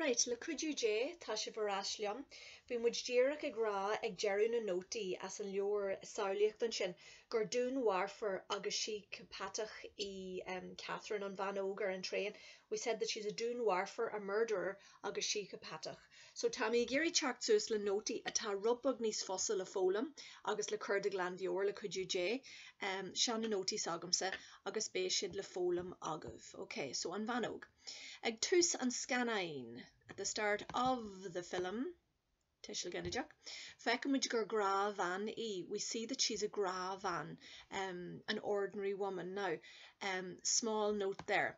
Right, le cuidiú Dé, tá sibh ar ais liom. Bhí muid díreach ag rá ag deireadh na nótaí as an leabhar samhlaíocht ansin gur dúnmharfóir agus síceapatach í Catherine, an bhean óg ar an traein. We said that she's a dúnmharfóir, a murderer, agus síceapatach. So tá mé ag iarraidh teacht suas le nótaí atá rud beag níos fusa le foghlaim agus le cur de ghlanmheabhair, le cuidiú Dé. Seo na nótaí s'agamsa agus beidh siad le foghlaim agaibh. Ok, so An Bhean Óg. Ag tús an scannáin, At the start of the film, tuiseal ginideach, feicimid gur gnáthbhean í, we see that she's a gnáthbhean, an ordinary woman. Now, small note there.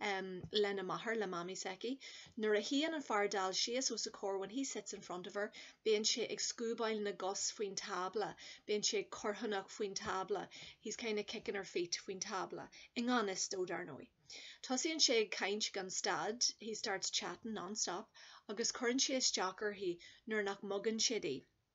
em lena máthair, le Mamaí s'aici. Nuair a shuíonn an fear dall síos os a comhair when he sits in front of her bíonn sé ag scuabáil na gcos faoin tábla, bíonn sé ag corrthónach faoin tábla, he's kind of kicking her feet faoin tábla, i ngan fhios dó, dar ndóigh. Tosaíonn sé ag caint gan stad he starts chatting non-stop agus cuireann sé isteach uirthi nuair nach mbogann siad í.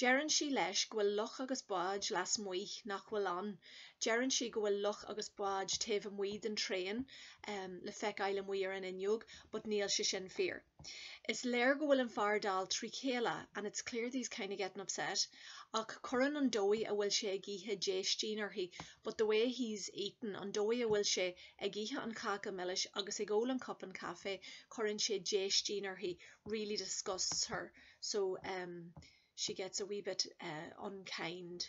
Deireann sí leis go bhfuil loch agus báid lasmuigh nach bhfuil ann. Deireann sí go bhfuil loch agus báid taobh amuigh den traein le feiceáil amuigh ar an fhuinneog but níl sé sin fíor. Is léir go bhfuil an fear dall trí chéile and it's clear that he's kinda getting upset ach cuireann an dóigh a bhfuil sé ag ithe déistin uirthi but the way he's eating, an dóigh a bhfuil sé ag ithe an cháca milis agus ag ól an cupán caife, cuireann sé déistin uirthi, really disgusts her. so em she gets a wee bit eh unkind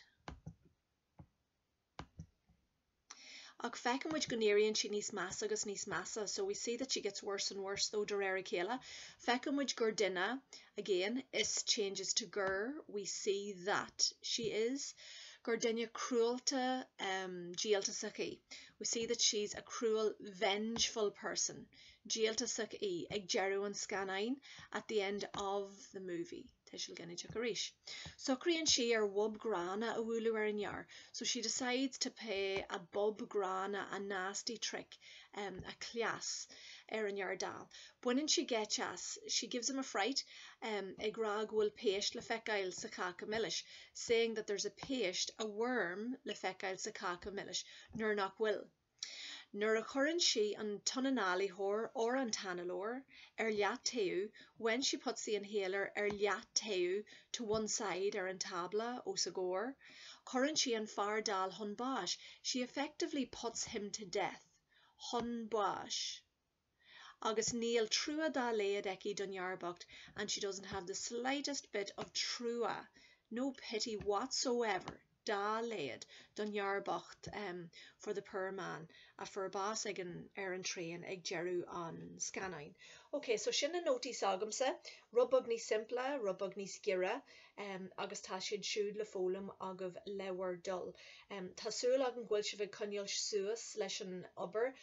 ach feiceann muid go n-éiríonn sí níos measa agus níos measa so we see that she gets worse and worse though de réir a chéile feiceann muid gur duine again is changes to gur we see that she is gur duine cruálta em díoltasach í we see that she's a cruel vengeful person díoltasach í ag deireadh an scannáin at the end of the movie tuiseal ginideach arís socraíonn sí ar bhob gránna a bhualadh ar an fhear so she decides to pay a bob gránna a nasty trick um a cleas ar an fhear dall baineann sí geit as she gives him a fright um ag rá go bhfuil péist le feiceáil sa cháca milis saying that there's a péist a worm le feiceáil sa cháca milis nuair nach bhfuil Nuair a chuireann sí an t-ionanálaitheoir or an t-análóir ar leataobh when she puts the inhaler ar leataobh to one side ar an tábla os a gcomhair cuireann sí an fear dall chun báis she effectively puts him to death chun báis. agus níl trua dá laghad aici don fhear bocht and she doesn't have the slightest bit of trua, no pity whatsoever dá laghad don fhear bocht ehm for the poor man a fuair bás ag an, ar an traein ag deireadh an scannáin. Ok, so sin na nótaí s'agamsa, rud beag níos simplí, rud beag níos giorra, ehm agus tá siad siúd le foghlaim agaibh le bhur dtoil. Ehm tá súil agam go bhfuil sibh ag coinneáil suas leis an obair